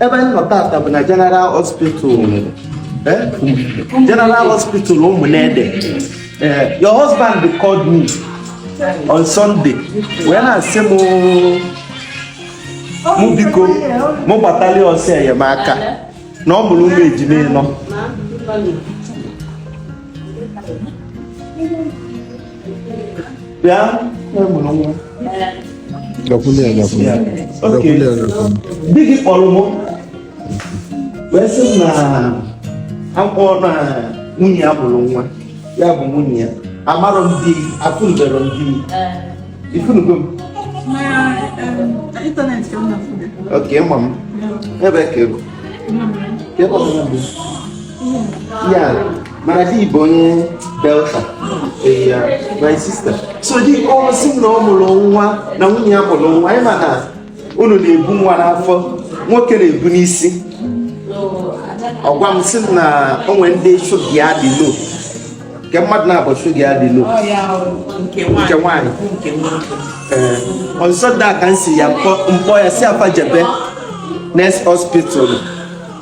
ebe anyị nọ tata bụ na General Hospital eh? General Hospital Ụmụnede eh, your husband called me on Sunday wee na-asị m mụ biko mụ gbatalị ya ọsọ enyemaka na ọ mụlụ ụmụ ejima ịnọ bịa na ị mụrụ nwa di gị kpọrọ m wee sị na akwụkwọ na nwunye ya mụrụ nwa ya bụ nwunye ya amarọ m di afụnụberọ m di ị fụnụgo m okay ị ma m ebe ka ego Yeah, mana di bụ onye Delta. Yeah, my sister. So di ọ sị na ọ mụrụ nwa na nwunye ya mụrụ nwa. Anyị ma na unu na-ebu nwa n'afọ, nwoke na-ebu n'isi. Ọ gwa m sị na o nwere ndị shuga ya dị low. Kee mmadụ na-abụ shuga ya dị low. Nke nwaanyị. Ee, on Sunday ka m sị ya m kpọọ ya sị fa jebe next hospital.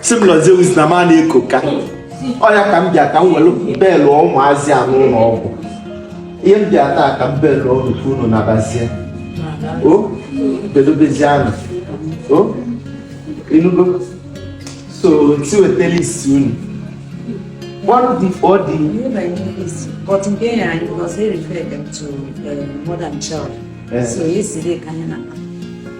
sị m Lord Zeus na m a na-eko ka oya ka m bịa ka m welu belụ ụmụazị a n'ụlọ ọgwụ ihe m bịa taa ka m belụ ọrụ ka unu nabazie o bedobezie anụ o ị nụgo so ti wetara isi unu one dị ọ dị But in there, I was very referred them to uh, mother and child. Eh. So yesterday, ka anyị na.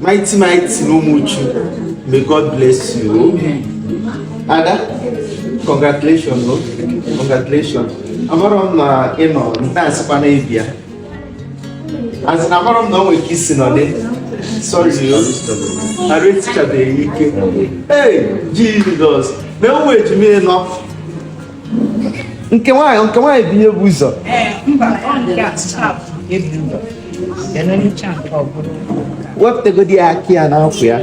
Mighty mighty n'Ụmụchu. May God bless you. Ada, congratulations. Ị nụ? Congratulations. Amarọ m na ị nọ nke a sịkwa na ị bịa. As in amarọ m na o nwere ike isi nọdị. Sorry, arụ esichabeghị ike. Hey, Jesus. Na ụmụ ejima ịnọ. nke nwaanyị nke nwaanyị bụ ihe bu ụzọ wepụtagodi ya aka ya n'afọ ya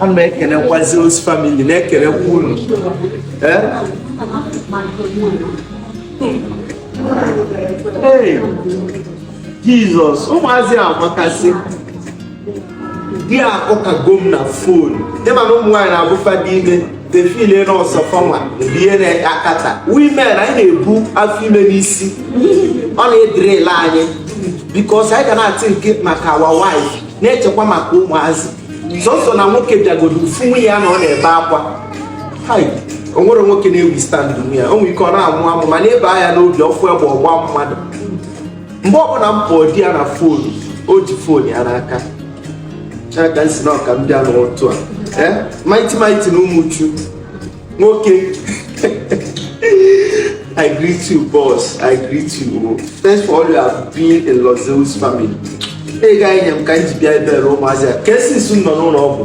ana m ekelekwazi Zeus family na-ekelekwa unu ee jizọs ụmụazị a makasị di a ụkago m na fon ịma na ụmụ nwaanyị na-abụ fa dị ime they feel na ọ sọ fanwa rie na-akata we men anyị na-ebu afọ ime n'isi ọ na-ederail anyị because anyị ga na-athink maka our wife na-echekwa maka ụmụazị sọsọ na nwoke bịagodo ọ fụ nwunye ya na ọ na-ebe akwa o nwere nwoke na-ewithstand ya o nwere ike ọ na-amụ amụ ma na-ebe akwa n'obi ọ fụ egbe ọ gbaa mmadụ mgbe ọbụla m kpọọ di ya na fon o ji fon ya n'aka aka nsi na ọka m bịa n'ụtụ a eh, mighty mighty na ụmụchu nwoke I greet you, boss. I greet you. Thanks for all you have been in Los Zeus family. ego i nye m ka m ji bịa ebe ụmụazị a ka esi nsu nọ n'ụlọ ọgwụ.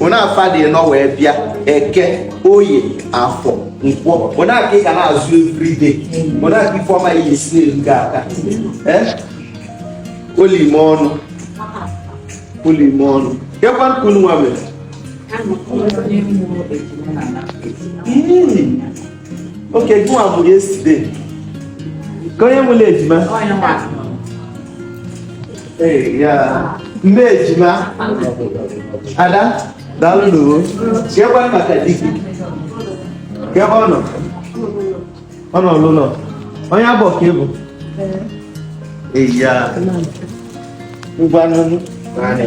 onye afịa dị ịnọ wee bịa eke oye afọ nkwọ ọ nya ka ị ga na-azụ everyday ọ nya ka ifeọma ya esi na-eru gị aka olime ọnụ olime ọnụ kekwanụ ka unu nwa mere okay gịnwa bụ yesterday ka onye nwere ejima Ee, ya. nne ejima ada daalụ n'uwe kekwanụ maka di gị kee ebe ọ nọ ọ nọ n'ụlọ onye abụ ka ị bụ Ee, ya. ngwanụ naanị